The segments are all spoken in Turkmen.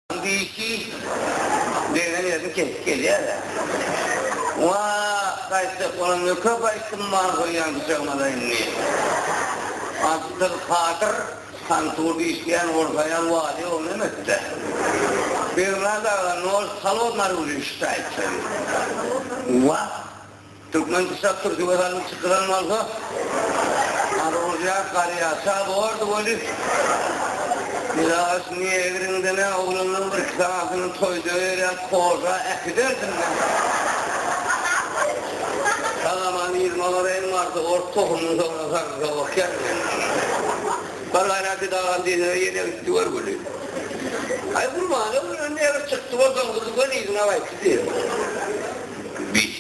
Indiki degnen ýerini kesip gelýär-ä. Wah, gaýtjak bolan nöker gaýtdym bar goýýan pyçagyma-da indi. Absyr Kadyr Hanturda işleýän ortaýan walyýa ogly emes-dä. Bernard aga nol holodnary ulyşdy aýtsaň. Wah! Türkmen pyçak türküge salym çykylan bolsa ar urýar garýa ça bordy weli ilaç negriňdenä oglanlaň bir iki sanasynyň toýda berýän koža äkiderdim men Sagaman ýylmalar en marzy ors tohumyny soňra sarymsak okýar men Bar gaýra ki dagan diýsene ýene gitdi gör weli Aý gurbana gören negr çykdy bolsaň gyzy göni yzyna gaýtdy diýerin.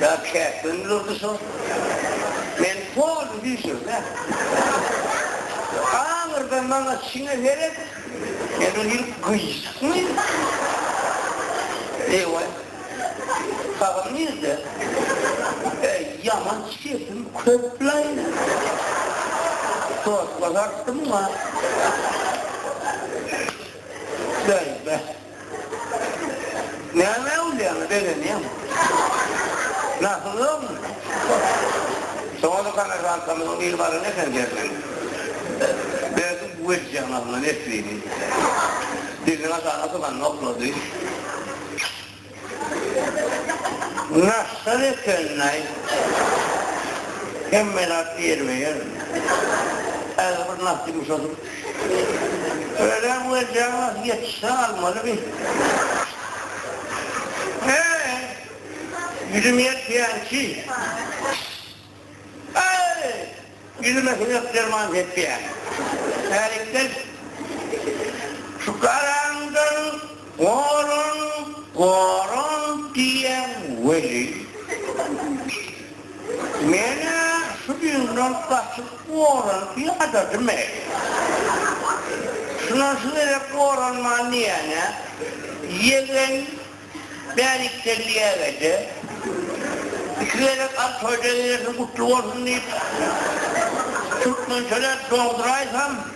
Ýa käkden durdy şol. Men polny düýşürme. Aňyrdan maňa çiňe seret. Men ol ýeri gyýşykmy? Eýwaý. Sagal nirde? Äý, ýaman çirkin köp-laý. Sosla dartdy muňa. Bäý, bäh. Näme ullaýaňa begenýäň? Nasyllygyň? Soňra kommersantamyzyň biri baran eken derrew. Berdi bu welisiň alyna Neslini. Diliniň aşagyna syganyny oklady. Nasyl eken-aý? Hemme zat ýerbe-ýer. Häzir bir nasy ýumşadyp. Öleň we Jaňa ýetişse almaly bi. Eý! Ýüzüm ýetýänçi. Eý! Ýüzüme siňek derman sepýän. Hälikden şu garaňdan. Goran, goran diýýäň weli, men-ä şu ýylydan gaçyp gorany ýadadym-eý. Şundan şu gezek goranman diýýän-ä, ýegen bärikdelliyäge-de, iki gezek al toýda gezersiň gutly bolsun diýip, türkmençeläp doňduraýsam.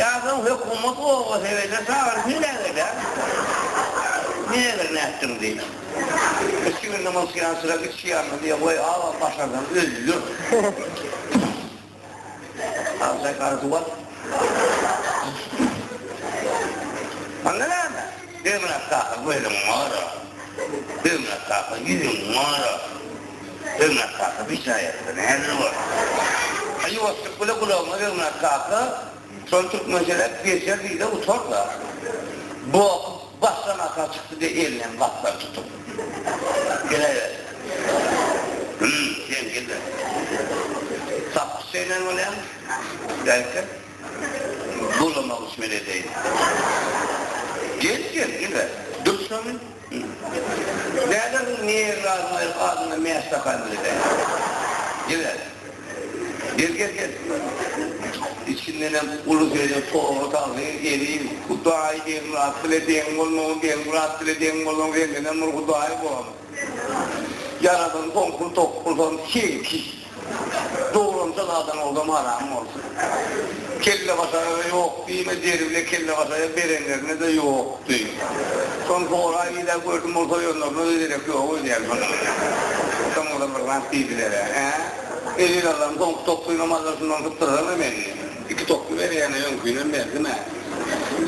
Ýazyň hökümet obasy ebede çagyrsyn nägele? Nägele nätdiň diý. Iki gün namaz kylýan syra içýärmi diý. Goý agam başarsaň öldür. Agy çaýkany suw at. Onda näme? Ömür aksakan gözüň gara. Ömür aksakan ýüzüň gara. Öňňät kaka bir jaý ýazsa nähili bolar? A ýuwaşlyk bile gulagyňa Öňňät kaka şony türkmençeläp geçer diýde utar-da. Boky başdan aşak çykdy diýe elini hem gapdan tutup. Geläýber. Hüm, sen gel-le. Sapyk çeýnen bolýaň. Belki, bulamak üçin edeýin. Gel sen, gel-le. Dur şony. Bälegiň nirn almaýyn adyna mäş takan bile däl. Ýöne. Gel gel gel. Içindenem uly söýen Togra tagsyr eliň Hudaý Begmyrat bile deň bolmagyn Begmyrat bile deň bolmagyň sendenem bir Hudaý bolan. Ýaradan soň pul topulsam seňki. Dogrumça zadyň oldam haramyň bolsun. Kellebaşaga-da ýok diýme, deri bile kellebaşaga berenlerine-de ýok diý. Şony soraý diýdä gördüm ol soýanlaryna-da derek ýok öýdýän şony. Dyňzyrlygyna-ak diýdiler-ä. Elin alan soňky toplyny maza şundan sypdyraram-a men. Iki toply berýän-ä öňkinem berdim-ä.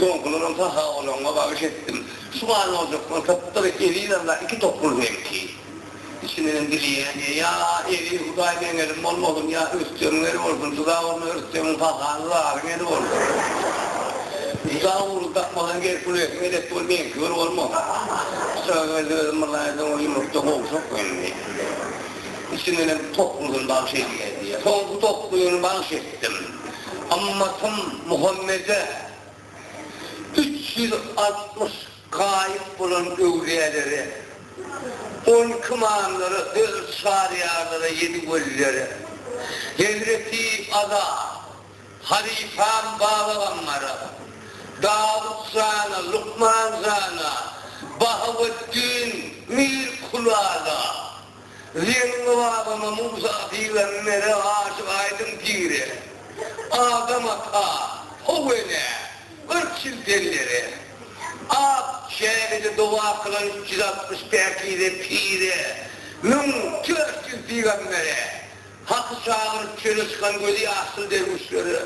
Soňkularam saha bolanyňa bagyş etdim. Şu galmajaklar sypdyr elin alla iki toply seňki. Içindenem dileýäni, Ýa, eli Hudaýyň eňelim bolmasyn, ýa Rüstegiň eli bolsun. Juda ugruna Rüstegiň pahany zaryň eli bolsun. Juda ugruny tapmasaň, gel pul eýesini elek bol, meňki bir bolmasyn. Çyrageldi özem bir laý doňuz ýumrukda gowşak indi. Içindenem toplusyny bagş edýä diýýä. Soňky toplusyny bagş etdim. Ymmatym Muhammede üç ýüz altmyş Gaýyp bolan öwlüýälere, on iki imamlara, dört çaryýarlara, ýedi welilere, hezreti Aza, halypam Babagambara, Dawut jana, Lukman jana, Bahaweddin, Mir Kulala, Zeýnully babama Musa pire, Mele aşyk Aýdyň pire, Adam ata, How enä, Gyrk ýyl pellere, Ak çägede doga kylan üç ýüz altmyş päkize pire, Müň dört ýüz pygambere, Haky çagyryp çöle çykan gözi ýaşly derwüşlere,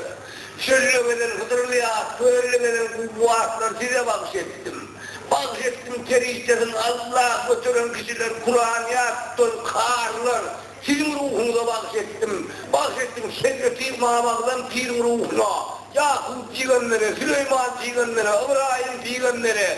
Çölde gezen Hydyrly at, kölde gezen guwwa atlar size bagş etdim. Bagş etdim perişdesin Alla göteren kişiler Kuran ýat tutan karylar siziň ruhuňyza bagş etdim. Bagş etdim Şegrepir Mamaglam piriň ruhuna, Ýakup pygambere, Süleýman pygambere, Ybraýym pygambere,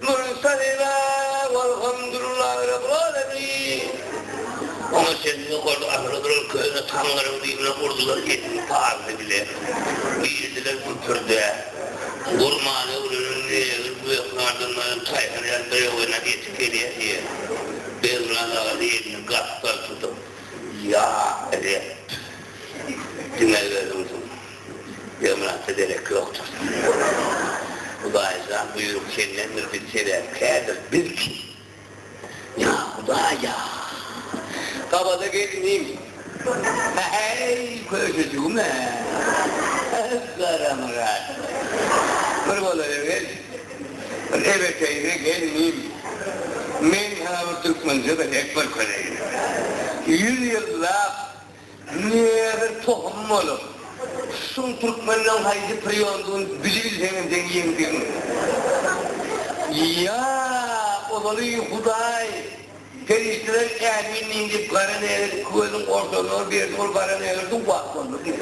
Nury Sahiba walhamdullah Rabbil Alemin Oňa çenli ol ahyry duran köne taňňaryň düýbüne urdular elini pardy bilen girdiler güpürdä gurmana öwrenen negr güýekardan maýyl taýhar ýaly birew ene eti gelýä diýen Begnaz aga elini gapdal tutup ýa Reb diňe özüňsiň Ýomranta derek ýokdur. Gurban oglum, Hudaý jan, buýruk sendendir, biz sebäpkärdir, biz kim? Ýa Hudaý, ýa! Gabada gelnim! Hä-heý, köşejigim-ä! Garamyrat! Bir bolary gel, bir ebeteýine gelnim, men saňa bir türkmençe gezek görkezeýin. Ýüz ýyllap Munuň özi tohum bolup, şum türkmenden haýsy priondygyny bilibilseňem seň ýeňdigiň. Ýa ozaly Hudaý, perişdeler ämin diýin diýip gara nägeli iki gözüň ortasyna berdi, ol gara nägeli duwwak boldy diýip.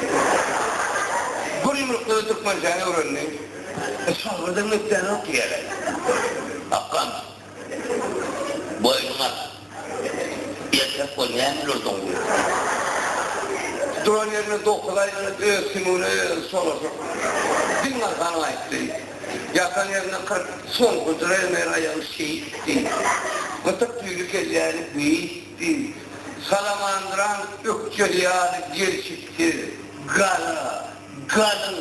Bir ýumrukda-da türkmençäni öwrendi. Şagyrdyň ökdäni ok ýere. Akgam. Boýnuň alar. Erkek bol, näme ýürdüň bu ýerde? Duran ýerinde dokuz aý ýöret, öz sümügine özi solaşyp, diň galsanyň aýtdy. Ýatan ýerinde kyrk sol gyjyraýmaýar aýagy şeýtdi. Gytyk tüýli kelläni beýtdi. Salamandyran ökjeli ýaly gelşiksiz, gara, galyň,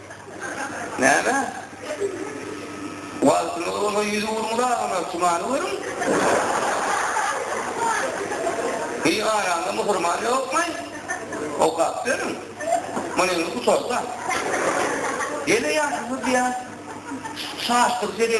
Näme? Wagtyňyz bolsa ýüz uruň dagyna, tumany görüň. Biganaňda musurman ýokmaý? Okap görüň. Muny indi gutarda. Ýene ýaşuly diýýär. Şaşdyryjy.